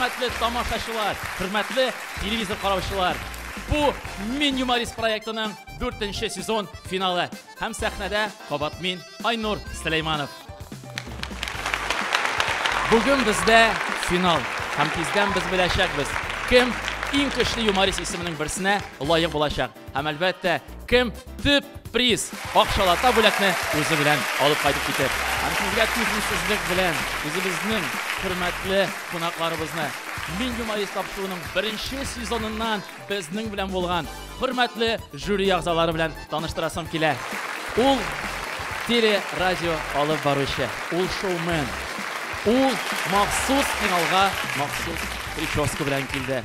хөрмәтле тамашачылар, хөрмәтле телевизор караучылар. Бу Мин юморист проектының 4нче сезон финалы. Һәм сәхнәдә кабат мин, Айнур Сөләйманов. Бүген бездә финал. Һәм тиздән без беләчәкбез, кем иң көчле юморист исеменең берсенә лаек булачак. Һәм әлбәттә, кем төп приз акчалата бүләкне үзе белән алып кайтып китер. Һәм сезгә түземсезлек белән үзебезнең хөрмәтле кунакларыбызны Мин юморист тапшыруның беренче сезоныннан безнең белән булган хөрмәтле жюри әгъзалары белән таныштырасым килә. Ул теле радио алып баручы, ул шоумен, ул махсус финалга махсус прическа белән килде.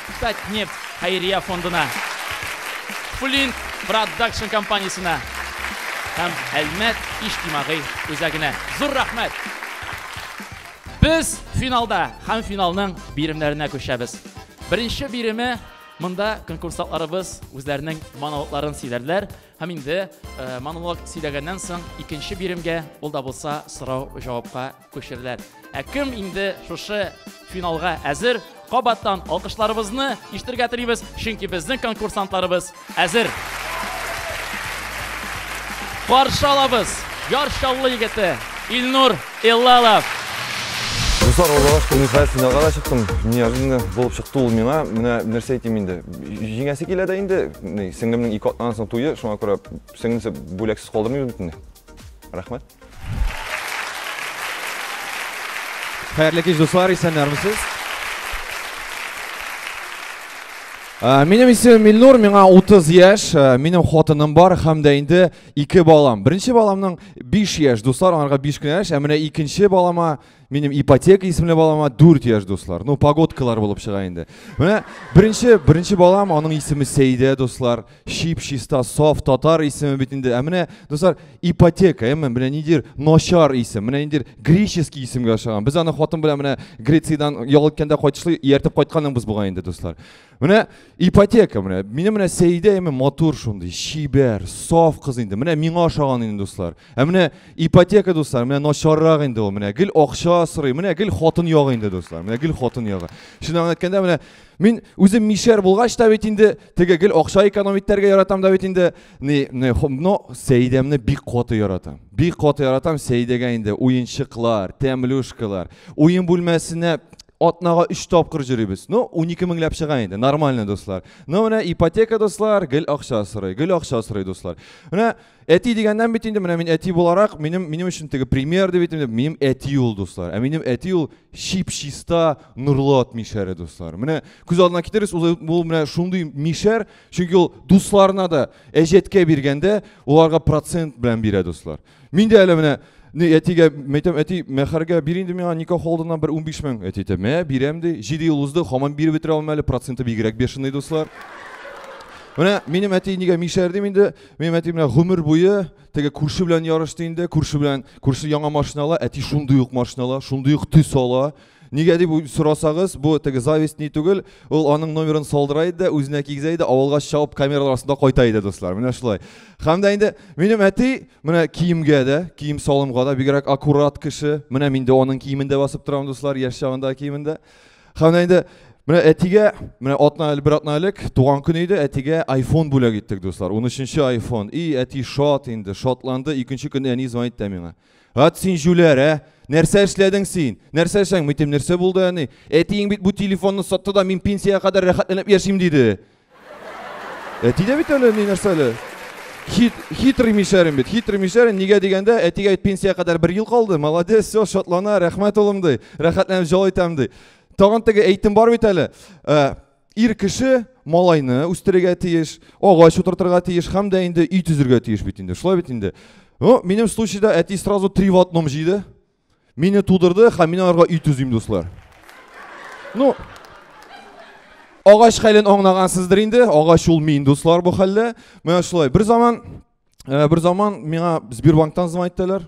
Татнефть хәйрия фондына, Флинт продакшн компаниясенә һәм Әлмәт иҗтимагый үзәгенә зур рәхмәт! Без финалда һәм финалның биремнәренә күчәбез. Беренче биреме монда конкурсантларыбыз үзләренең монологларын сөйләрләр һәм инде монолог сөйләгәннән соң икенче биремгә, ул да булса сорау-җавапка Күчерләр. Ә кем инде шушы финалга әзер? Кабаттан алкышларыбызны иштергә телибез, чөнки безнең конкурсантларыбыз әзер. Каршы алабыз Яр Чаллы егете Илнур Иллалов. Дуслар, олыгаш күрмей хәл финалга да чыктым. Неожиданно булып чыкты ул миңа. Менә нәрсә әйтим инде. Җиңәсе килә дә инде. Сеңлемнең ике атнаннан соң туе, шуңа күрә сеңлесе бүләксез калдырмыйбыз бит инде. Рәхмәт. Хәерле кич, дуслар, исәннәрмесез? Ә, Минем исемем Илнур, миңа 30 яшь, ә, минем хатыным бар һәм дә инде ике балам. Беренче баламның 5 яшь, дуслар, аңарга 5 кенә яшь, ә менә икенче балама Минем ипотека исемле балама 4 яшь дуслар. Ну, погодкалар булып чыга инде. Менә беренче, беренче балам, аның исеме Сәйдә, дуслар. Шип, чиста, саф, татар исеме бит инде. Ә менә, дуслар, ипотека, әмма менә нидер начар исем, менә нидер греческий исемгә ошаган. Без аны хатын белән менә Грециядән ял иткәндә кайтышлый ияртеп кайтканыбыз булган инде, дуслар. Менә ипотека менә. Минем менә Сәидә әйме матур шундый, чибәр, саф кыз инде. Менә миңа ошаган инде дуслар. Ә менә ипотека дуслар, менә начаррак инде ул. Менә гел акча сорый, менә гел хатын ягы инде дуслар. Менә гел хатын ягы. Шуны әйткәндә менә мин үзем мишәр булгач та бит инде теге гел акча экономить итәргә яратам да бит инде. не, не, но сәйдәмне бик каты яратам бик каты яратам сәйдәгә инде уенчыклар тәмлюшкалар уен бүлмәсенә атнага өч тапкыр йөрибез ну унике меңләп чыга инде нормально дуслар ну менә ипотека дуслар гел акча сорый гел акча сорый дуслар менә әти дигәннән бит инде менә мин әти буларак минем минем өчен теге пример дип әйтәм минем әти ул дуслар ә минем әти ул чип чиста нурлы ат мишәре дуслар менә күз алдына китерегез ул менә шундый мишәр Чөнки ул дусларына да әҗәткә биргәндә уларга процент белән бирә дуслар. Мин дә әле менә не әтигә мәйтәм, әти, мәхәргә бир инде миңа никах алдыннан бер 15 мең. Әти әйтә, мә, бирәм ди. 7 ел узды, хаман биреп бетерә алмый әле, проценты бигрәк бешеный дуслар. Менә минем әти нигә мишәр дим инде, минем әти менә гомер буе теге күрше белән ярышты инде, күрше белән, күрше яңа машина ала, әти шундый ук машина ала, шундый ук төс ала. Нигә дип сорасагыз, бу теге зависть ни түгел, ул аның номерын салдыра иде, үзенә кигезә иде, авылга чабып камералар астында кайта иде, дуслар. Менә шулай. Һәм дә инде минем әти менә киемгә дә, кием салымга да бигрәк аккурат кеше. Менә мин дә аның киемендә басып торам, дуслар, яшь чагында киемендә. Һәм дә инде Менә әтигә, менә атна әле бер атна элек туган көн иде, әтигә iPhone бүләк иттек, дуслар. 13 нче iPhone. И әти шат инде, шатланды. Икенче көнне әни звонит та миңа. Ат син җүләр, ә? Нәрсә эшләдең син? Нәрсә эшләң? Митем, нәрсә булды әни? Әтиең бит бу телефонны сатты да мин пенсиягә кадәр рәхәтләнеп яшим диде. Әти дә бит әле ни нәрсә әле? Хит, хитрый мишәрем бит, хитрый мишәрем. Нигә дигәндә, әтигә пенсиягә кадәр бер ел калды. Молодец, все, шатлана, рәхмәт улым ди. Рәхәтләнеп җал итәм ди. Тагын теге әйтем бар бит әле. Ә, Ир кеше малайны үстерергә тиеш, агач утыртырга тиеш һәм дә инде өй төзергә тиеш бит инде. Шулай бит инде. Ну, минем случайда әти сразу три в одном җыйды. Мине тудырды һәм мин аларга өй төзим, дуслар. Ну, агач хәлен аңлагансыздыр инде. Агач ул мин, дуслар, бу хәлдә. Менә шулай. Бер заман, э, бер заман миңа Сбербанктан звонить иттеләр.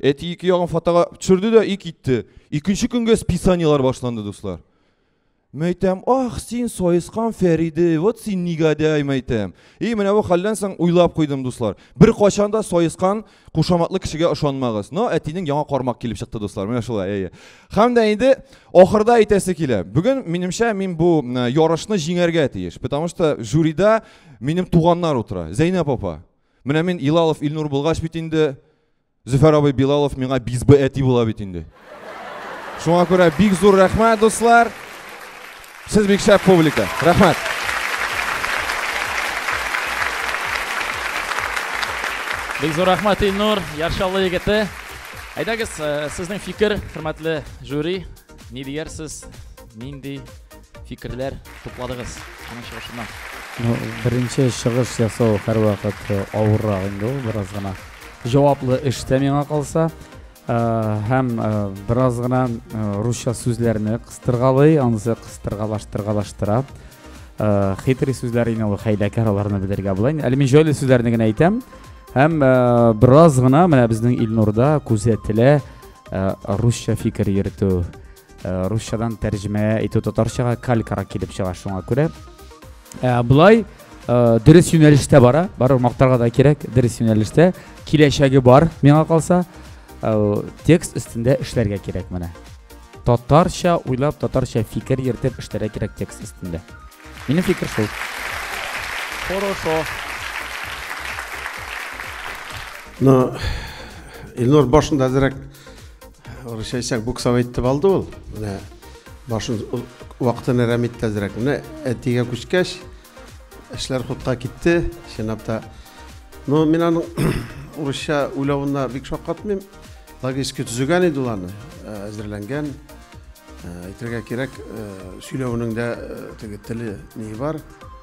Әти ике ягын фотога төшерде дә и китте. Икенче көнгә списаниелар башланды, дуслар. Мәйтәм, ах, син саескан Фәриде, вот син негодяй, мәйтәм. И менә бу хәлдән соң уйлап куйдым, дуслар. Бер качан да саескан кушаматлы кешегә ошанмагыз. Но әтинең яңа кармак килеп чыкты, дуслар. Менә шулай, әйе. Хәм дә инде ахырда әйтәсе килә. Бүген минемчә мин бу ярышны җиңәргә тиеш, потому что жюрида минем туганнар утыра. Зәйнәп апа, Менә мин Илалов Илнур булгач бит инде Зөфәр абый Билалов миңа бизбы әти була бит инде. Шуңа күрә бик зур рәхмәт, дуслар. Сез бик шәп публика. Рәхмәт. Бик зур рәхмәт Илнур, Яршаллы егете. Әйдәгез, э, сезнең фикер, хөрмәтле жюри, ни диярсез? Нинди Фикерләр тупладыгыз аның чыгышыннан. Ну, беренче чыгыш ясау һәрвакыт э, авыррак инде ул бераз гына. Җаваплы эштә миңа калса э, һәм э, бераз гына русча сүзләрне кыстыргалый, анысы кыстыргалаштыргалаштыра. Хитрый сүзләр ине ул хәйләкәр аларны белергә була. Әле мин җайлы сүзләрне генә әйтәм. Һәм бераз гына менә безнең Илнурда күзәтелә русча фикер йөртү. Э, русчадан тәрҗемә итү татарчага калькара килеп чыга шуңа күрә э, былай э, дөрес юнәлештә бара барыбер мактарга да кирәк дөрес юнәлештә киләчәге бар миңа калса текст өстендә эшләргә кирәк менә татарча уйлап татарча фикер йөртеп эшләргә кирәк текст өстендә минем фикер шул хорошо но Илнур башында әзерәк Орысча әйтсәң, буксов әйтеп алды ул. Менә башын вакытын әрәм итте әзрәк. Менә әтигә күчкәч, эшләр хутка китте, чынлап та. Но мин аның урысча уйлавына бик шаккатмыйм. Логически төзегән иде ул аны, э, әзерләнгән. Э, әйтергә кирәк, э, сөйләвенең дә теге теле ни бар.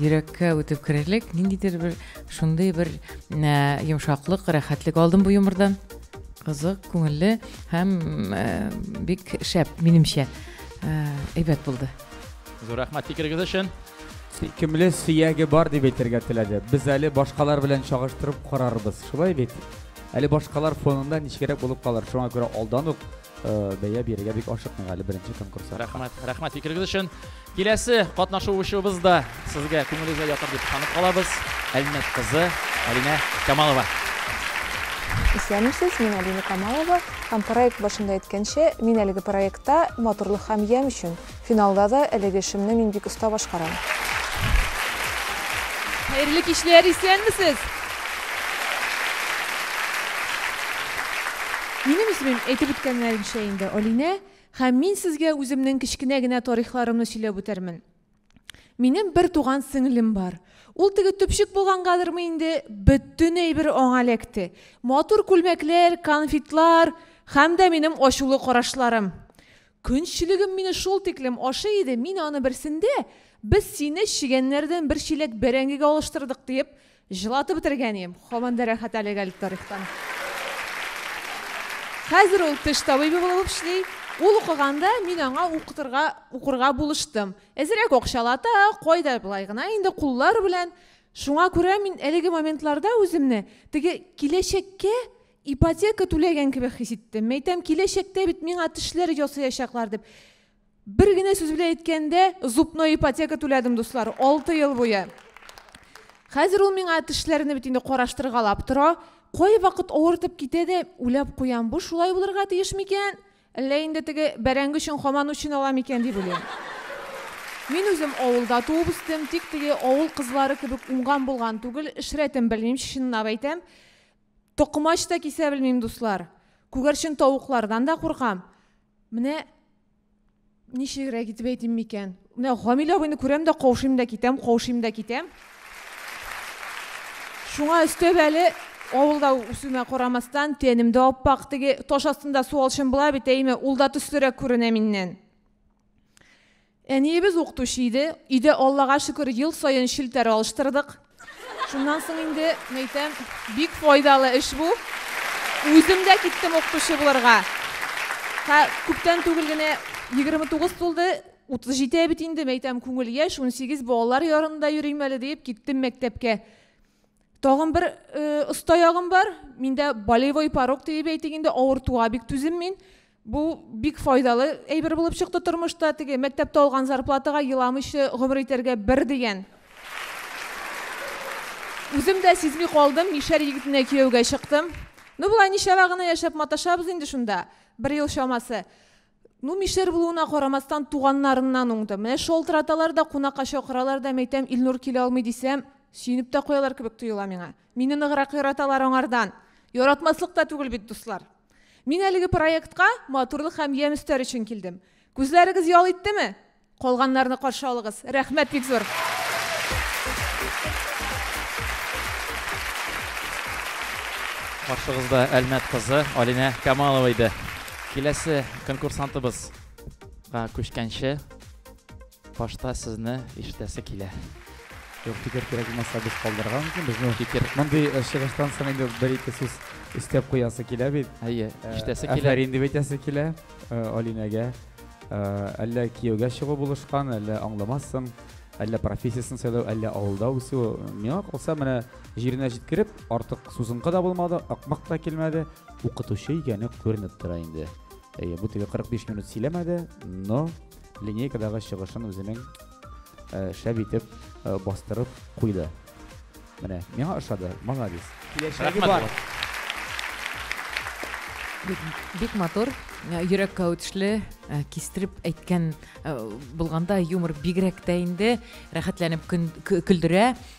Йөрәккә үтеп керерлек, ниндидер бер шундый бер йомшаклык, рәхәтлек алдым бу юмырдан. Кызык, күңелле һәм бик шәп, минемчә. Әйбәт булды. Зур рәхмәт фикерегез өчен. Сөйкемле сөяге бар дип әйтергә теләде. Без әле башкалар белән чагыштырып карарбыз. Шулай бит? Әле башкалар фонында ничегрәк булып калыр. Шуңа күрә алдан ук бәя бирергә бик ашыкмыйк әле беренче конкурста. Рәхмәт, рәхмәт фикерегез өчен. Киләсе катнашучыбыз да сезгә күңелегезгә ятыр дип ышанып калабыз. Әлмәт кызы Алинә Камалова. Исәнмесез, мин Алина Камалова һәм проект башында әйткәнчә, мин әлеге проектта матурлык һәм ямь өчен Финалда да әлеге эшемне мин бик оста башкарам. Хәерле кичләр, исәнмесез! Минем исемем әйтеп үткәннәренчә инде Алинә, һәм мин сезгә үземнең кечкенә генә тарихларымны сөйләп үтәрмен. Минем бер туган сеңлем бар. Ул теге төпчек булгангадырмы инде, бөтен әйбер аңа эләкте. Матур күлмәкләр, конфетлар һәм дә минем ачулы карашларым. Көнчелегем мине шул тиклем ашый иде, мин аны берсендә, Без сине чегәннәрдән бер чиләк бәрәңгегә алыштырдык, диеп, җылатып бетергән идем. Һаман да рәхәт әлеге әле тарихтан. Хәзер ул теш табибы булып эшли. Ул укыганда мин аңа укытырга, укырга булыштым. Әзерәк акчалата, кайда болай гына инде куллар белән. Шуңа күрә мин әлеге моментларда үземне теге киләчәккә Ипотека түләгән кебек хис иттем. Мәйтәм, киләчәктә бит миңа тешләр ясаячаклар дип. Бер генә сүз белән әйткәндә, зубной ипотека түләдем, дуслар, 6 ел буе. Хәзер ул миңа тешләрне бит инде караштыргалап тора. Кай вакыт авыртып китә дә, үләп куям. Бу шулай булырга тиеш микән? Әллә инде теге бәрәңге өчен хаман үчен ала микән дип уйлыйм. Мин үзем авылда туып үстем, тик теге авыл кызлары кебек уңган булган түгел, эш рәтен белмим, чынлап әйтәм. Токмач та кисә белмим, дуслар. Күгәрчен тавыклардан да куркам. Менә ничегрәк итеп әйтим микән? Менә Гамил абыйны күрәм дә каушыйм да китәм, каушыйм да китәм. Шуңа өстәп әле авылда үсүмә карамастан, тәнем дә аппак, теге таш астында суалчым була бит, әйме, ул да төслерәк күренә миннән. Әниебез укытучы иде. Өйдә, Аллага шөкер, ел саен челтәр алыштырдык. Шуннан соң инде, мәйтәм, бик файдалы эш бу. Үзем дә киттем укытучы булырга. Һә, күптән түгел генә 29 тулды, 37 бит инде, мәйтәм, күңел яшь, 18 балалар ярында йөрим әле диеп, киттем мәктәпкә. Тагын бер оста ягым бар, миндә болевой порог диеп әйтик инде, авыртуга бик түзем мин. Бу бик файдалы әйбер булып чыкты тормышта. Теге мәктәптә алган зарплатага еламыйча гомер итәргә бер дигән. Үзем дә сизми калдым, мишәр егетенә кияүгә чыктым. Ну, болай ничәвә гына яшәп маташабыз инде шунда, бер ел чамасы. Ну, мишәр булуына карамастан, туганнарыннан уңды. Менә шалтыраталар да, кунакка чакыралар да, мәйтәм, Илнур килә алмый дисәм, сөенеп тә куялар кебек тоела миңа. Мине ныграк яраталар аңардан. Яратмаслык та түгел бит, дуслар. Мин әлеге проектка матурлык һәм ямь өстәр өчен килдем. Күзләрегез ял иттеме? Калганнарны каршы алыгыз. Рәхмәт бик зур. Каршыгызда Әлмәт кызы Алинә Камалова иде. Киләсе конкурсантыбызга күчкәнче, Башта сезне ишетәсе килә. Юк, фикер кирәк булмаса, без калдырырга мөмкин безне. Фикер. Мондый э, чыгыштан соң инде бер-ике сүз өстәп куясы килә бит. Әйе, э, ишетәсе килә. Әфәрин дип әйтәсе килә э, Алинәгә. Әллә кияүгә чыгу булышкан, әллә аңламассың, әллә профессиясын сайлау, әллә авылда үсү. Миңа калса, менә җиренә җиткереп, артык сузынкы да булмады, акмак та килмәде. Укытучы икәне күренеп тора инде. Әйе, бу теге 45 минут сөйләмәде, но линейкадагы чыгышын үзенең э, шәп итеп э, бастырып куйды. Менә, миңа ошады, молодец. Киләчәге бар. Бик, бик матур, э, йөрәккә үтешле, э, кистереп әйткән э, булганда юмор бигрәк тә инде рәхәтләнеп көн- кө- көлдерә.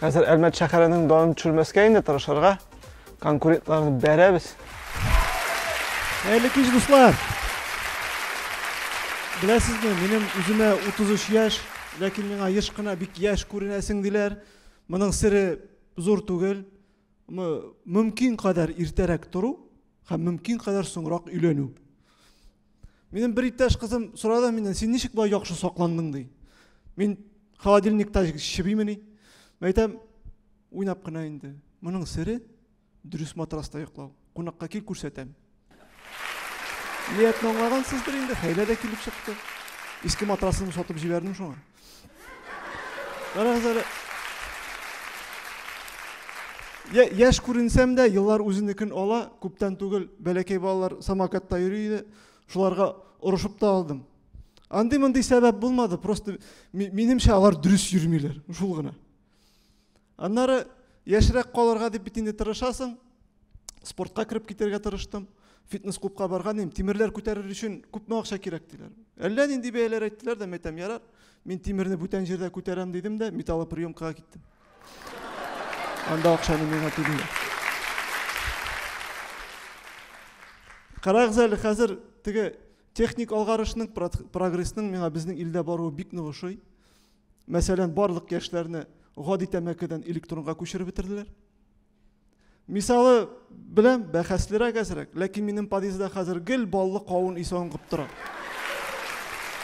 Хәзер Әлмәт шәһәренең данын төшермәскә инде тырышырга. Конкурентларны бәрәбез. Хәерле кич, дуслар! Беләсезме, минем үземә 33 яшь, ләкин миңа еш кына бик яшь күренәсең диләр. Моның сере зур түгел. Мөмкин кадәр иртәрәк тору һәм мөмкин кадәр соңрак өйләнү. Минем бер иптәш кызым сорады миннән, син ничек болай яхшы сакландың ди. Мин холодильникта чебимени? Мин әйтәм, уйнап кына инде. Моның сере дөрес матраста йоклау. Кунакка кил күрсәтәм. Ниятне аңлагансыздыр инде, хәйлә дә килеп чыкты. Иске матрасын сатып җибәрдем шуңа. Карагыз әле. Я, яшь күренсәм дә, еллар үзенекен ала. Күптән түгел бәләкәй балалар самокатта йөри иде. Шуларга орышып та алдым. Андый мондый сәбәп булмады, просто минемчә алар дөрес йөрмиләр, шул гына. Аннары яшьрәк калырга дип бит инде тырышасың. Спортка кереп китәргә тырыштым. Фитнес-клубка барган идем. Тимерләр күтәрер өчен күпме акча кирәк диләр. Әллә нинди бәяләр әйттеләр дә, мәйтәм, ярар. Мин тимерне бүтән җирдә күтәрәм дидем дә, металлоприемкага киттем. Анда акчаны миңа түлиләр. Карагыз әле, хәзер теге техник алгарышның, прогрессның миңа безнең илдә баруы бик нык ошый. Мәсәлән, барлык яшьләрне гади тәмәкедән электронга күчереп бетерделәр. Мисалы белән бәхәслерәк әзрәк, ләкин минем подъездда хәзер гел баллы кавын исе аңгып тора.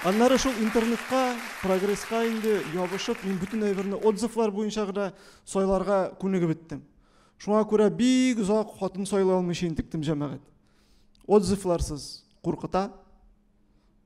Аннары шул интернетка, прогресска инде ябышып, мин бөтен әйберне отзывлар буенча гына сайларга күнегеп беттем. Шуңа күрә бик озак хатын сайлый алмыйча интектем җәмәгать. Отзывларсыз куркыта.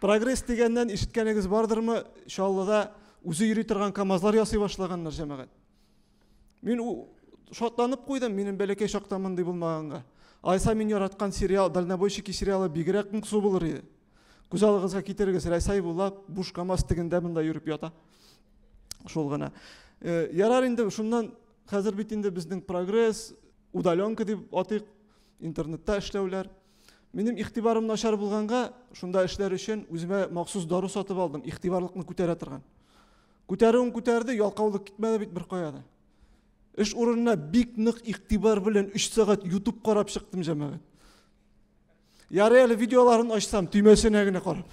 Прогресс дигәннән ишеткәнегез бардырмы? Чаллыда үзе йөри торган КАМАЗлар ясый башлаганнар җәмәгать. Мин шатланып куйдым, минем бәләкәй чакта мондый булмаганга. Айса мин яраткан сериал, дальнобойщики сериалы бигрәк моңсу булыр иде. Күз алыгызга китерегез, Рәсәй була, буш КАМАЗ тегендә монда йөреп ята. Шул гына. Э, ярар инде шуннан хәзер бит инде безнең прогресс, удаленка дип атыйк, интернетта эшләүләр. Минем игътибарым начар булганга, шунда эшләр өчен үземә махсус дару сатып алдым, игътибарлыкны күтәрә торган. Күтәрүен күтәрде, ялкаулык китмәде бит бер кая да. Эш урынына бик нык игътибар белән 3 сәгать YouTube карап чыктым җәмәгать. Ярый әле видеоларын ачсам, төймәсенә генә карап.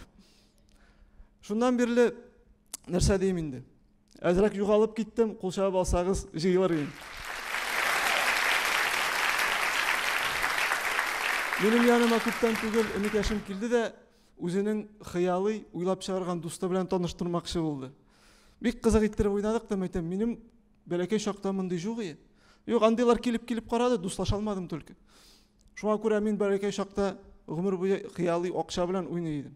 Шуннан бирле нәрсә дим инде? Әзрәк югалып киттем, кул чабып алсагыз җыелыр идем. Минем яныма күптән түгел энекәшем килде дә, үзенең хыялый уйлап чыгарган дусты белән таныштырмакчы булды. Бик кызык иттереп уйнадык та, мәйтәм, минем бәләкәй чакта мондый жук ие. Юк, андыйлар килеп-килеп карады, дуслаша алмадым только. Шуңа күрә мин бәләкәй чакта гомер буе хыялый акча белән уйный идем.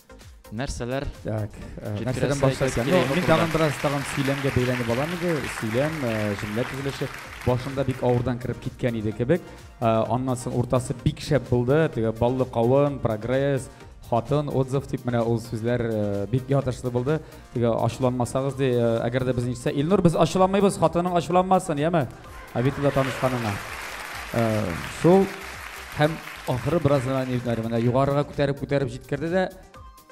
Нәрсәләр? Так, э, нәрсәдән башласаң? Ну, мин тагын бераз тагын сөйләмгә бәйләнеп алам иде. Сөйләм, э, җөмлә төзелеше башында бик авырдан кереп киткән иде кебек. Э, аннан соң уртасы бик шәп булды. Теге баллы кавын, прогресс, хатын, отзыв дип менә ул сүзләр бик ятышлы булды. Нигә ачуланмасагыз ди, э, әгәр дә безне ишетсә, Илнур, без ачуланмыйбыз, хатының ачуланмасын, яме? Авитода танышканыңа. Э, шул һәм ахыры бераз гына нервнар менә югарыга күтәреп күтәреп җиткерде дә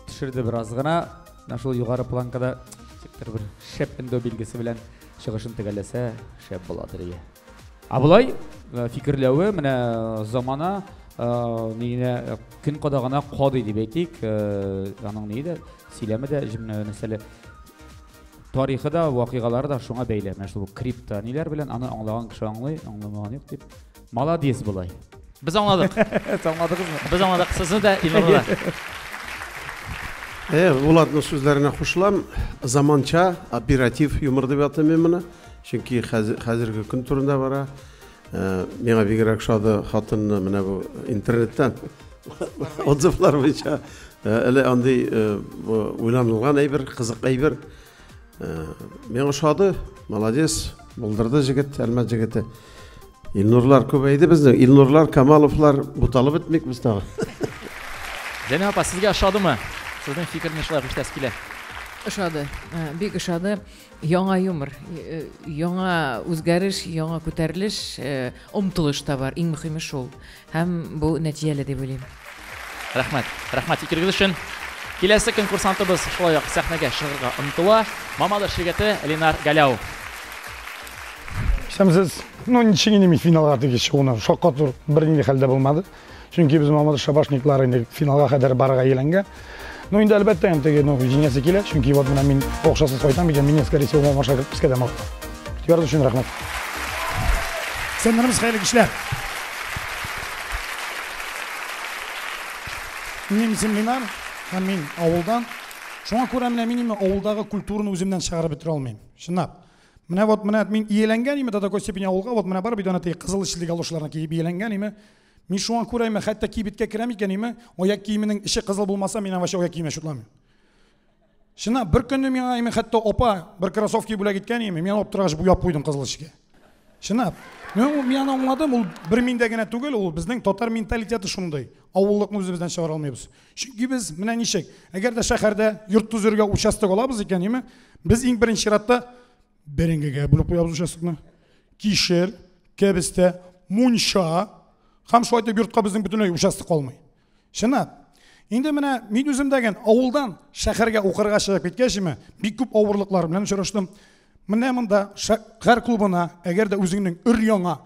төшерде бераз гына. Менә шул югары планкада сектор бер шәп эндо билгесе белән чыгышын төгәлләсә, шәп була дирия. Ә болай фикерләве менә замана нигенә көн кадагына кадый дип әйтик, аның ни дә, сөйләме дә, мәсәле тарихы да, вакыйгалары да шуңа бәйле. Менә шул крипто ниләр белән аны аңлаган кеше аңлый, аңламаган юк дип. Молодец болай. Без аңладык. Сез аңладыгызмы? Без аңладык. Сезне дә Илнурны да. Э, Булатның сүзләренә кушылам. Заманча оператив юмор дип атыйм мин моны. Чөнки хәзерге көн турында бара. Э, миңа бигрәк шады хатынны менә бу интернеттан отзывлар буенча э, әле андый э, уйланылган әйбер, кызык әйбер. Миңа ошады, молодец, булдырды җегет, әлмәт җегете. Илнурлар күбәйде безнең. Илнурлар, Камаловлар буталып бетмик без тагы. Зәйнә апа, сезгә ошадымы? Сезнең фикерне шулай кушәс килә. Ошады, бик ошады. Яңа юмор, яңа үзгәреш, яңа күтәрелеш, омтылыш та бар. Иң мөхиме шул. Һәм бу нәтиҗәле дип уйлыйм. Рәхмәт. Рәхмәт фикерегез өчен. Киләсе конкурсантыбыз шулай ук сәхнәгә чыгарга омтыла. Мамадыш ширкәте Ленар Галяу. Исәнмесез. Ну, ничек инде мин финалга теге чыгуны, шаккату бернинди хәлдә булмады. Чөнки без Мамадыш шабашниклары инде финалга кадәр барырга ияләнгән. Ну инде әлбәттә, теге ну җиңәсе килә, чөнки вот менә мин акчасыз кайтам икән, мин скорее всего машина кертеп искә дә мал. Игътибар өчен рәхмәт. Сәннәребез хәерле кичләр. Минем исем Ленар, һәм мин авылдан. Шуңа күрә менә мин именно авылдагы культураны үземнән чыгарып бетерә алмыйм. Чынлап. Менә вот менә мин иеләнгән име до такой степени авылга, вот менә бар бит ана теге кызыл эчле галошларны киеп иеләнгән име. Мин шуңа күрә име, хәтта кибеткә керәм икән име, аяк киеменең эче кызыл булмаса, мин вообще аяк киеме шутламыйм. Шына бер көнне миңа име хәтта опа бер кроссовки бүләк иткән име, мин алып торгач буяп куйдым кызыл эчкә. Шына. Мин мин аны аңладым, ул бер миндә генә түгел, ул безнең татар менталитеты шундый. Авыллыкны үзебездән чыгара алмыйбыз. Чөнки без менә ничек, әгәр дә шәһәрдә йорт төзергә участок алабыз икән, яме, без иң беренче чиратта бәрәңгегә бүлеп куябыз участокны. Кишер, кәбестә, мунча һәм шулай итеп йортка безнең бөтенләй участок калмый. Чынлап. Инде менә мин үзем дәген авылдан шәһәргә укырга чыгып киткәч, яме, бик күп авырлыклар белән очраштым. Менә монда шәһәр клубына, әгәр дә үзеңнең өр-яңа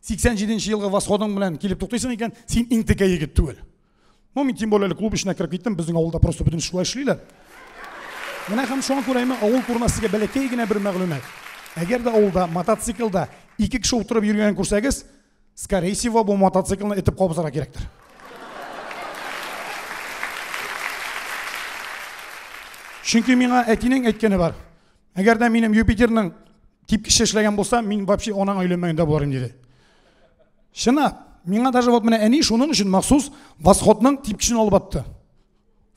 87 елгы Восходың белән килеп туктыйсың икән, син иң текә егет түгел. Ну, мин тем более әле клуб эченә кереп киттем, безнең авылда просто бөтен шулай эшлиләр. Менә һәм шуңа күрә мин авыл турында сезгә бәләкәй генә бер мәгълүмат. Әгәр дә авылда мотоциклда ике кеше утырып йөргәнен күрсәгез, скорее всего, бу мотоциклны этеп кабызарга кирәктер. Чөнки миңа әтинең әйткәне бар. Әгәр дә минем Юпитерның типкече эшләгән булса, мин вообще анаң өйләнмәгәндә буларым диде. Шына, миңа даже вот менә әни шуның өчен махсус восходның типкешен алып атты.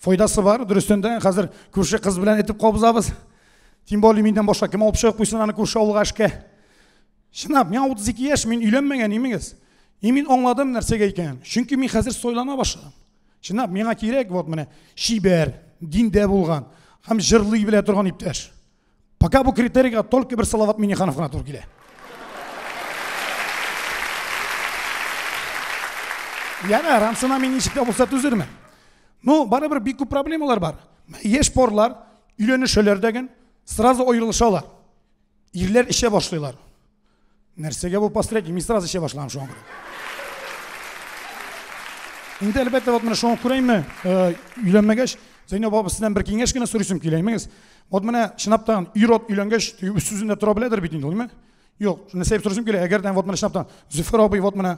Файдасы бар, дөрестән дә хәзер күрше кыз белән этеп кабызабыз. Тем более миннән башка кем алып чыгып куйсын аны күрше авылга эшкә. Шына, миңа 32 яшь, мин өйләнмәгән имегез. И мин аңладым нәрсәгә икән. Чөнки мин хәзер сойлана башладым. Шына, миңа кирәк вот менә чибәр, диндә булган һәм җырлый белә торган иптәш. Пока бу критерийга только бер Салават Миниханов гына туры килә. Яна рамсына мин ничек тә булса түзермен. Ну, барыбер бик күп проблемалар бар. Яшь парлар өйләнешәләр дәген, сразу аерылышалар. Ирләр эшә башлыйлар. Нәрсәгә бу постряки? Мин сразу эчә башлаган шуңа күрә. Инде әлбәттә вот менә шуңа күрә инде өйләнмәгәч, Зәйнәб апа сездән бер киңәш кенә сорыйсым килә, имегез. Вот менә чынлаптан ир-ат өйләнгәч, үз сүзендә тора беләдер бит инде ул, име? Юк, нәрсә дип сорыйсым килә, әгәр дә вот менә чынлаптан Зөфәр абый вот менә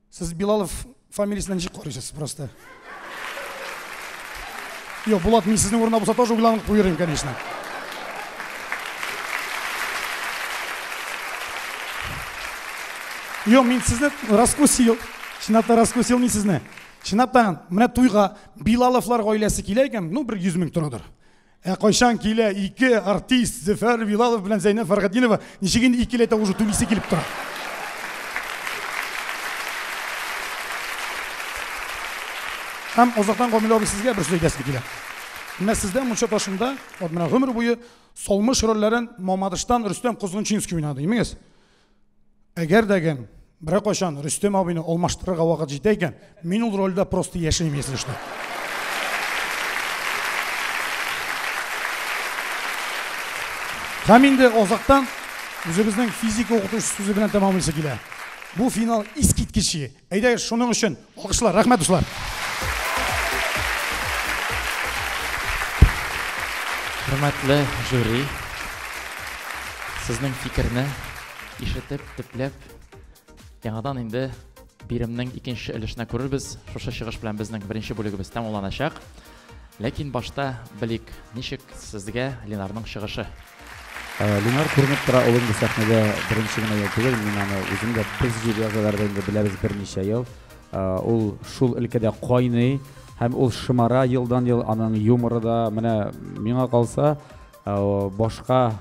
Сез Билалов фамилиясенә ничек карыйсыз просто? Юк, Булат, мин сезнең урында булса тоже уйланып куер идем, конечно. Юк, мин сезне раскусил. Чынлап та раскусил мин сезне. Чынлап та, менә туйга Билаловлар гаиләсе килә икән, ну бер 100 мең торадыр. Ә кайчан килә ике артист Зөфәр Вилалов белән Зәйнәб Фәргатдинова ничек инде икеләтә уже түлисе килеп тора. Һәм озактан Гамил абый сезгә бер сүз әйтәсем килә. Менә сездә мунча ташында, вот менә гомер буе Солмыш рольләрен Мамадыштан Рөстәм Козгынчинский уйнады, имегез. Әгәр дә гән берәр кайчан Рөстәм абыйны алмаштырырга вакыт җитә икән, мин ул рольдә просто яшим, если что. Һәм инде азактан үзебезнең физика укытучысы сүзе белән тәмамлыйсы килә. Бу финал искиткечи. Әйдәгез, шуның өчен Алкышлар, рәхмәт дуслар. Хөрмәтле жюри, сезнең фикерне ишетеп, төпләп, яңадан инде биремнең икенче өлешенә күрербез. Шушы чыгыш белән безнең беренче бүлегебез тәмамланачак. Ләкин башта белик, ничек сезгә Ленарның чыгышы? Ленар күренеп тора, ул инде сәхнәдә беренче генә ел түгел, мин аны үзем дә без җилязаларда инде беләбез берничә ел. Ул шул өлкәдә кайный һәм ул шомара елдан-ел, аның юморы да, менә миңа калса, башка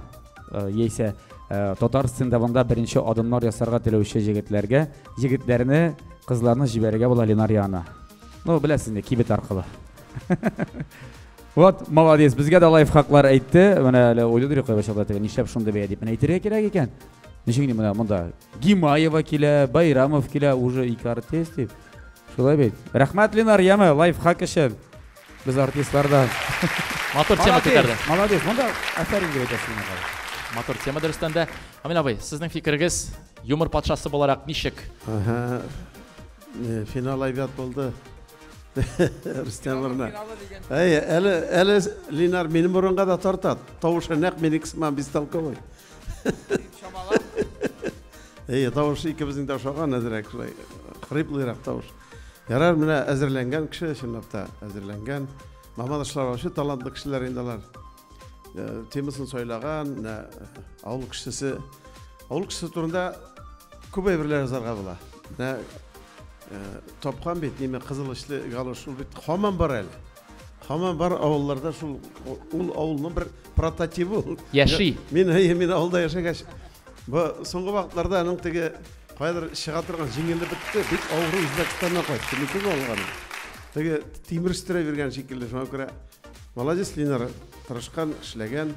яисә татар стендабында беренче адымнар ясарга теләүче җегетләргә егетләрне кызларны җибәрергә була ленар янына ну беләсез инде кибет аркылы вот молодец безгә дә лайфхаклар әйтте менә әле уйлыйдыр кайбер чакта теге нишләп шундый бәя дип менә әйтергә кирәк икән ничек менә монда гимаева килә байрамов килә уже ике артист дип шулай бит рәхмәт ленар яме лайфхак өчен Без артистлар да матур тема күтәрде. Молодец, монда әфәрин дип әйтәсез миңа. Матур тема дөрестән дә. Амин абый, сезнең фикерегез юмор патшасы буларак ничек? Ага. Э, финал әйбәт булды. Рустам урына. Әй, әле әле Линар минем урынга да тартат. Тавышы нәкъ минеке сыман бестолковый. Шамалап. Әй, тавышы икебезнең дә ошаган әзрәк шулай. Хриплырак тавыш. Ярар, менә әзерләнгән кеше, чынлап та әзерләнгән. Маман Ашларовичы талантлы кешеләр инде алар. Э, темасын сайлаган, менә э, авыл кешесе. Авыл кешесе турында күп әйберләр язарга була. Менә э, тапкан бит, неме кызыл ишле галош, ул бит хаман бар әле. Хаман бар авылларда шул ул авылның бер прототивы. Яши. Мин әйе, мин авылда яшәгәч, Бу соңгы вакытларда аның теге кайдыр чыга торган җиңеле бетте, бик авыру Үзбәкстаннан кайтты. Мөмкин алган. Теге тимер өстерә биргән шикелле, шуңа күрә молодец Линар, тырышкан, эшләгән.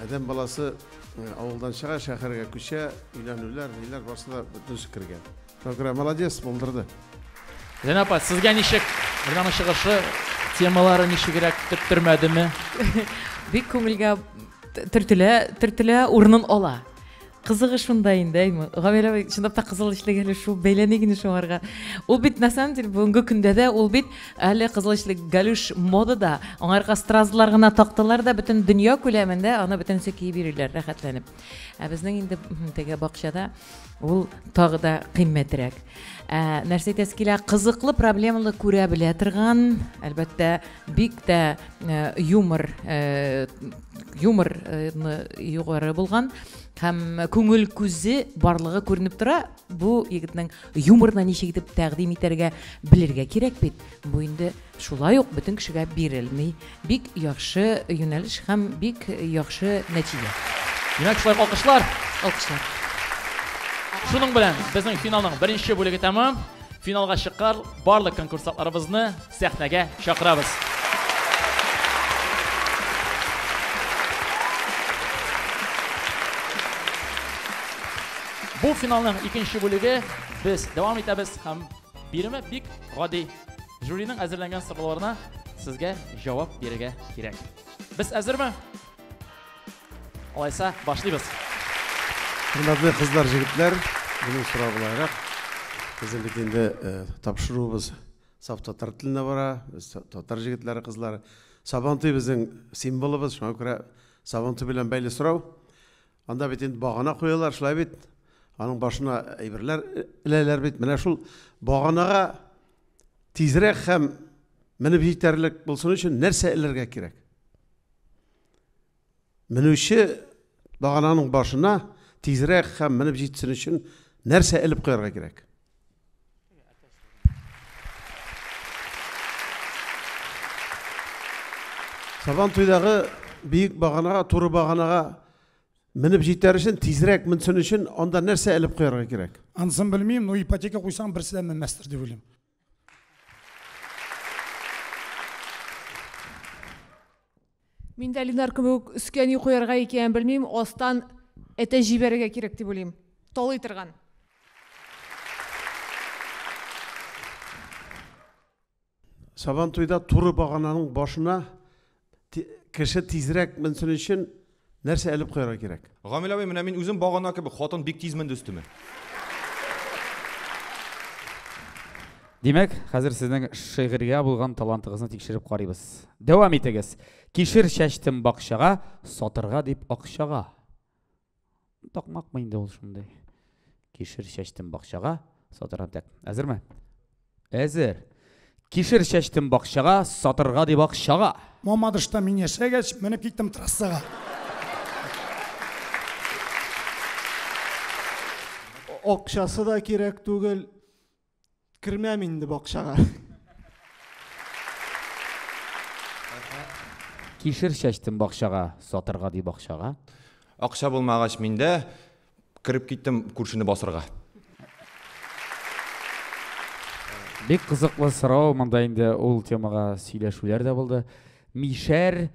Адәм э, баласы э, авылдан чыга, шәһәргә күчә, өйләнүләр, ниләр барсы да бөтен кергән. Шакира, молодец, булдырды. Зәйнә апа, сезгә ничек? Ринаны чыгышы, темалары ничегрәк төрттермәдеме? Бик күңелгә төртелә, төртелә, урынын ала. Кызыгы шунда инде, әйме. Гамилә абый, чынлап та кызыл эчлек әле шул бәйләми генә шуңарга. Ул бит на самом деле бүгенге көндә дә ул бит әле кызыл эчлек галюш модада. Аңарга стразлар гына тактылар да бөтен дөнья күләмендә аны бөтенесе киеп йөриләр рәхәтләнеп. ә безнең инде теге бакчада ул тагы да кыйммәтрәк ә, нәрсә әйтәсе килә кызыклы проблемалы күрә белә торган әлбәттә бик тә ә, юмор ә, юмор югары булган һәм күңел күзе барлыгы күренеп тора бу егетнең юморны ничек итеп тәкъдим итәргә белергә кирәк бит бу инде Шулай ук бөтен кешегә бирелми. Бик яхшы юнәлеш һәм бик яхшы нәтиҗә. Димәк, шулай алкышлар. Алкышлар. Шуның белән безнең финалның беренче бүлеге тәмам. Финалга чыккар барлык конкурсантларыбызны сәхнәгә чакырабыз. Бу финалның икенче бүлеге без дәвам итәбез һәм биреме бик гади. Жюриның әзерләнгән сорауларына сезгә җавап бирергә кирәк. Без әзерме? Алайса, башлыйбыз. Хөрмәтле кызлар, җегетләр, минем сорау буларак, безнең бит инде тапшыруыбыз саф татар телендә бара, без татар җегетләре, кызлары. Сабантуй безнең символыбыз, шуңа күрә Сабантуй белән бәйле сорау. Анда бит инде багана куялар, шулай бит? Аның башына әйберләр эләләр бит. Менә шул баганага тизрәк һәм менеп җитәрлек булсын өчен нәрсә эләргә кирәк? Менүче багананың башына тизрәк һәм менеп җитсен өчен нәрсә элеп куярга кирәк? Сабан туйдагы биек баганага, туры баганага Менеп җитәр өчен, тизрәк менсен өчен, анда нәрсә элеп куярга кирәк? Анысын белмим, но ипотека куйсаң, берсе дә менмәстер дип уйлыйм. Мин дә Ленар кебек өскә ни куярга икәнен белмим, астан әтә җибәрергә кирәк дип уйлыйм. Талый торган. Сабантуйда туры багананың башына кеше тизрәк менсен өчен нәрсә әлеп куярга кирәк? Гамил абый, менә мин үзем багана кебек, хатын бик тиз менде өстемә. Димәк, хәзер сезнең шигырьгә булган талантыгызны тикшереп карыйбыз. Дәвам итегез. Кишер чәчтем бакчага, сатырга дип акчага. Такмакмы инде ул шундый? Кишер чәчтем бакчага, сатырам тәк. Әзерме? Әзер. Кишер чәчтем бакчага, сатырга дип акчага. Мамадышта мин яшәгәч, менеп киттем трассага. Акчасы да кирәк түгел, Кермәм инде бакчага. Кишер чәчтем бакчага, сатырга ди бакчага. Акча булмагач миндә, кереп киттем күршене басырга. Бик кызыклы сорау, монда инде ул темага сөйләшүләр дә булды. Мишәр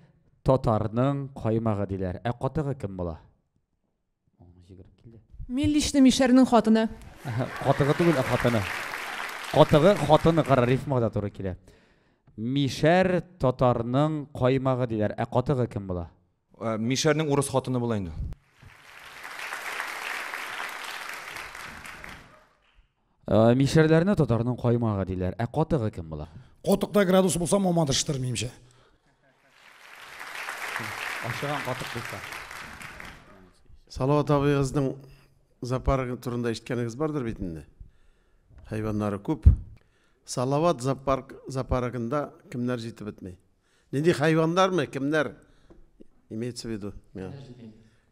татарның каймагы диләр. Ә катыгы кем була? Милличный мишәрнең хатыны. Катыгы түгел, ә хатыны. Катыгы хатыны кара рифмага да туры килә. Мишәр татарның каймагы диләр. Ә катыгы кем була? Ә, мишәрнең урыс хатыны була инде. Ә, Мишәрләрне татарның каймагы диләр. Ә катыгы кем була? Котыкта градус булса мамадыштыр, минемчә. Ашыган катык булса. Салават абыегызның зоопарк турында ишеткәнегез бардыр бит инде. Хайваннары күп. Салават зоопарк зоопаркында кемнәр җитеп бетми? Нинди хайваннармы, кемнәр? Имеется в виду.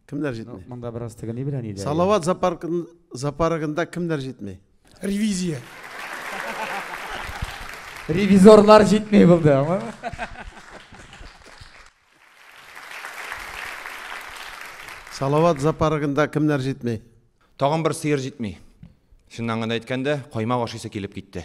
Кемнәр җитми? Монда бераз тегени белән иде. Салават зоопаркында кемнәр җитми? Ревизия. Ревизорлар җитми булды, аңлама? Салават зоопаркында кемнәр җитми? Тагын бер сыер җитми. Чыннан гына әйткәндә, каймак ашыйсы килеп китте.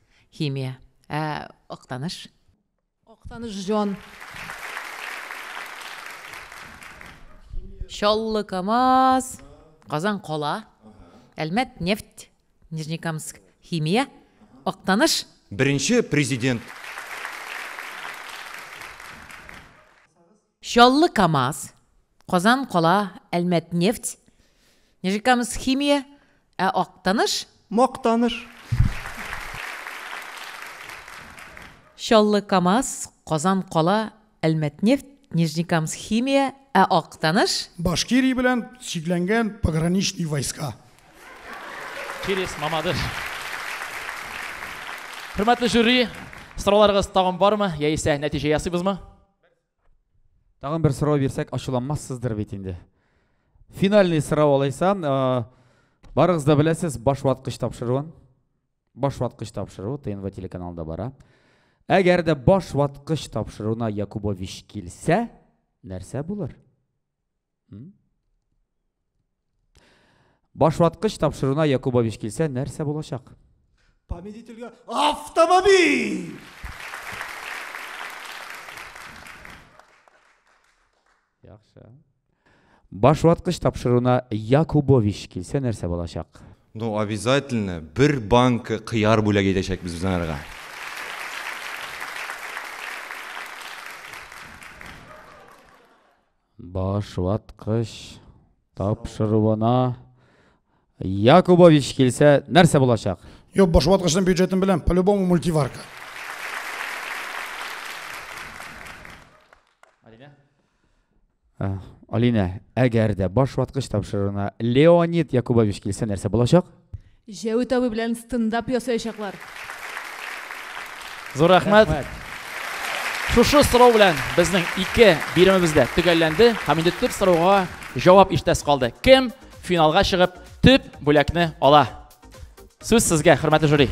Химия. Ә Актаныш? Актаныш җан. Чаллы Камаз. Казан кала. Әлмәт нефть. Нижнекамск химия. Актаныш. Беренче президент. Чаллы КАМАЗ, Казан кала, Әлмәтнефть, Нижнекамскхимия, ә Актаныш? Мактаныш. Чаллы КАМАЗ, Казан кала, Әлмәтнефть, Нижнекамскхимия, ә Актаныш? Башкирия белән чикләнгән пограничный войска. Через Мамадыш. Хөрмәтле жюри, сорауларыгыз тагын бармы, яисә нәтиҗә ясыйбызмы? Тагын бер сорау бирсәк, ачуланмассыздыр бит инде. Финальный сорау алайса, барыгыз да беләсез, баш ваткыч тапшыруын. Баш ваткыч тапшыру ТНВ телеканалында бара. Әгәр дә баш ваткыч тапшыруына Якубович килсә, нәрсә булыр? Башваткыч тапшыруына Якубович килсә, нәрсә булачак? Победительгә автомобиль! Яхшы. Башваткыч тапшыруына Якубович килсә, нәрсә булачак? Ну, обязательно бер банка кыяр бүләк итәчәкбез без анарга. Баш ваткыч тапшыруына Якубович килсә, нәрсә булачак? Юк, баш ваткычның бюджетын беләм, по-любому мультиварка. Э, Алинә, әгәр дә баш ваткыч тапшыруына Леонид Якубович килсә, нәрсә булачак? Җәвит абый белән стендап ясаячаклар. Зур рәхмәт. Шушы сорау белән безнең ике биремебез дә төгәлләнде һәм инде төп сорауга җавап ишетәсе калды. Кем финалга чыгып төп бүләкне ала? Сүз сезгә, хөрмәтле жюри.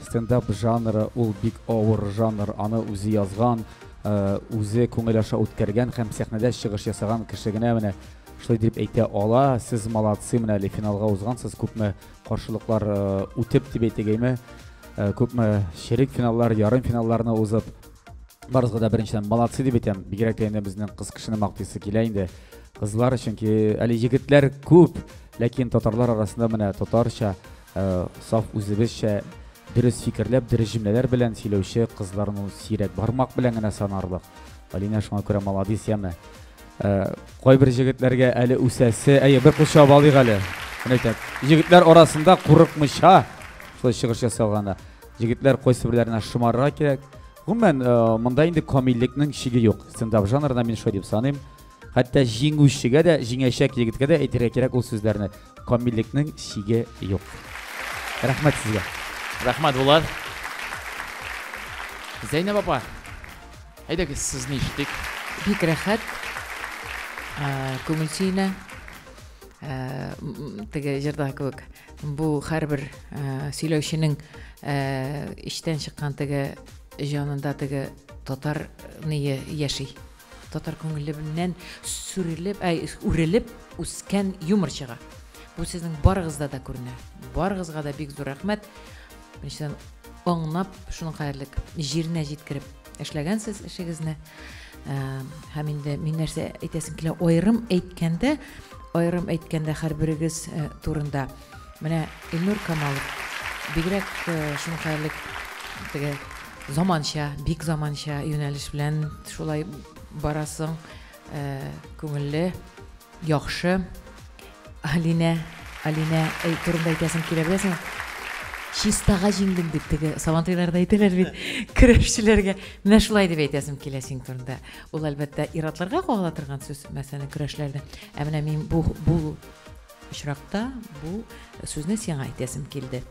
Стендап жанры ул бик авыр жанр, аны үзе язган, үзе күңел аша үткәргән һәм сәхнәдә чыгыш ясаган кеше генә менә шулай дип әйтә ала. Сез молодцы, менә әле финалга узгансыз, күпме каршылыклар үтеп дип әйтегәйме, күпме чирек финаллар, ярым финалларны узып, барысыгыз да беренчедән молодцы дип әйтәм. Бигрәк тә инде безнең кыз кешене мактыйсы килә инде. Кызлар, чөнки әле егетләр күп, ләкин татарлар арасында менә татарча Ә саф үзебезчә дөрес фикерләп, дөрес җөмләләр белән сөйләүче кызларны сирәк, бармак белән генә санарлык. Алинә шуңа күрә маладис, яме. Ә, кайбер җегетләргә әле үсәсе, әйе, бер курчау балыйк әле. Менә әйтәм, җегетләр арасында курыкмыйча шулай чыгыш ясалганда, җегетләр кайсы берләренә шомарырга кирәк. Гомумән, э, монда инде камиллекнең чиге юк. Стендап жанрына мин шулай дип саныйм. Хәтта җиңүчегә дә, җиңәчәк егеткә дә әйтергә кирәк ул сүзләрне. камиллекнең чиге юк рәхмәт сезгә рәхмәт булат зәйнәб апа әйдәгез сезне ишетик бик рәхәт күңел сөенә теге җырда кебек бу һәрбер сөйләүченең эчтән чыккан теге җанында теге татар ные яши Татар күңеленнән сүрелеп, әй, үрелеп үскән юморчыга. Бу сезнең барыгызда да күренә. Барыгызга да бик зур рәхмәт. Миштән аңнап, шуның кадәрлек җиренә җиткереп эшләгәнсез эшегезне. Ә, һәм инде мин нәрсә әйтәсем килә, аерым әйткәндә, аерым әйткәндә һәрберегез э, турында Менә Илнур Камалов бигрәк шуңкайлы теге заманча, бик заманча юнәлеш белән шулай барасың. Күңелле, яхшы. Алинә, Алинә турында әйтәсең килә беләсең. Чистага җиңдем дип теге Сабантуйларда әйтәләр бит көрәшчеләргә. Менә шулай дип әйтәсем килә синең турында. Ул әлбәттә ир-атларга кагыла торган сүз мәсәлән көрәшләрдә. Ә менә мин бу бу очракта бу сүзне сиңа әйтәсем килде.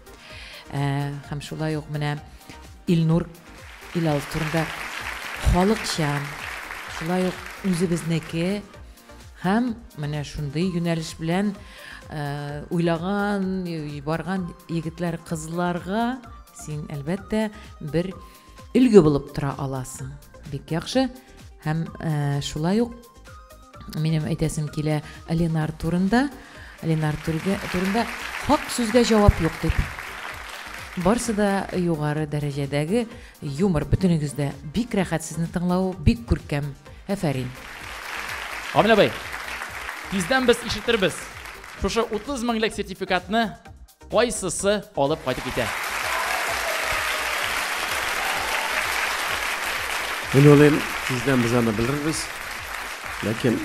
Ә, һәм шулай ук менә Илнур Илал турында халыкчан, шулай ук үзебезнеке һәм менә шундый юнәлеш белән ә, уйлаган, барган егетләр, кызларга син әлбәттә бер өлге булып тора аласың. Бик яхшы һәм ә, шулай ук Минем әйтәсем килә Ленар турында. Ленар турында хак сүзгә җавап юк дип. Барсы да югары дәрәҗәдәге юмор бөтенегездә. Бик рәхәт сезне тыңлау, бик күркәм. Әфәрин. Амин абый. Тиздән без ишетербез. Шушы 30 меңлек сертификатны Кайсысы алып кайтып китә? Мин уйлыйм, тиздән без аны белербез. Ләкин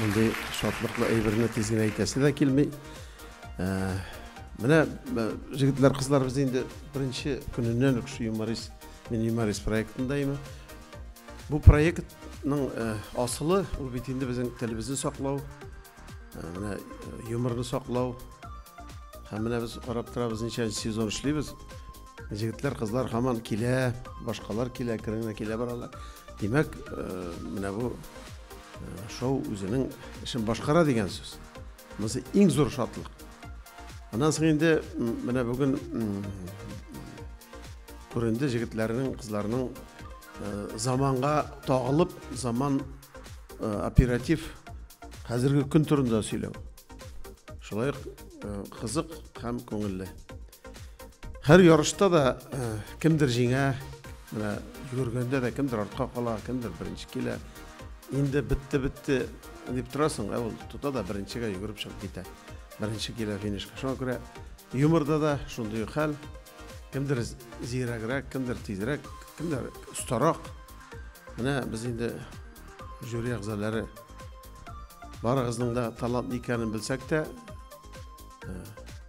мондый шатлыклы әйберне тиз генә әйтәсе дә килми. Менә җегетләр, кызлар, без инде беренче көненнән үк шу юморист, мин юморист проектында имин. Бу проектның асылы, ул бит инде безнең телебезне саклау, Менә юморны саклау. Һәм менә без карап торабыз, ничә сезон эшлибез. Җегетләр, кызлар һаман килә, башкалар килә, кереңә килә баралар. Димәк, менә бу шоу үзенең эшен башкара дигән сүз. Монысы иң зур шатлык. Аннан соң инде менә бүген күренде җегетләрнең, кызларның заманга тагылып, заман оператив хәзерге көн турында сөйләү шулай ук кызык һәм күңелле һәр ярышта да кемдер җиңә менә йөгергәндә дә кемдер артка кала кемдер беренче килә инде бетте бетте дип торасың ә ул тота да беренчегә йөгереп чыгып китә беренче килә финишка шуңа күрә юморда да шундый ук хәл Кемдер зирәгрәк, кемдер тизрәк, кемдер остарак. Менә без инде жюри әгъзалары барыгызның да талант икәнен белсәк тә, э,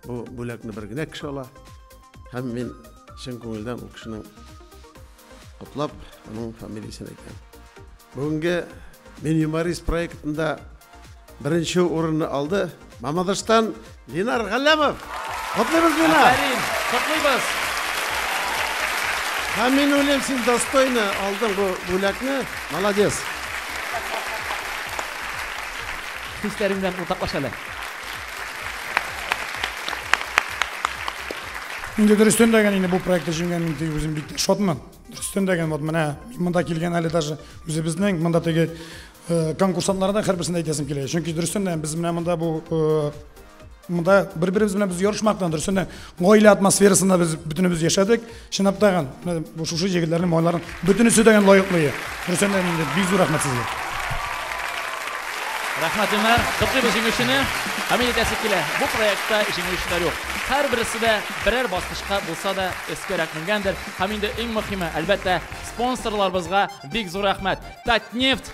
бу бүләкне бер генә кеше ала. Һәм мин чын күңелдән ул кешенең Котлап, аның фамилиясен әйтәм. Бүгенге Мин юморист проектында беренче урынны алды Мамадыштан Линар Галләмов. Котлыйбыз, Линар! Афәрин, котлыйбыз! Һәм мин уйлыйм, син достойно алдың бу бүләкне. Молодец! Хисләрең белән уртаклаш әле. Инде дөрестән дә инде бу проектта җиңгән мин теге үзем бик шатмын. Дөрестән дә вот менә монда килгән әле даже үзебезнең монда теге э, конкурсантларда һәрберсен әйтәсем килә. Чөнки дөрестән дә без менә монда бу э, монда бер-беребез белән без ярышмактан дөрестән дә гаилә атмосферасында без бөтенебез яшәдек. Чынлап та шушы җегетләрнең малайларын Бөтенесе дә лаеклы. Рөстәм Әминов, бик зур рәхмәт сезгә. Рәхмәт, Илнар. Котлыйбыз җиңүчене. Хәмит әйтәсе килә, бу проектта җиңүчеләр юк. Һәрбересе дә берәр баскычка булса да өскәрәк менгәндер. Һәм инде иң мөһиме, әлбәттә, спонсорларыбызга бик зур рәхмәт. Татнефть!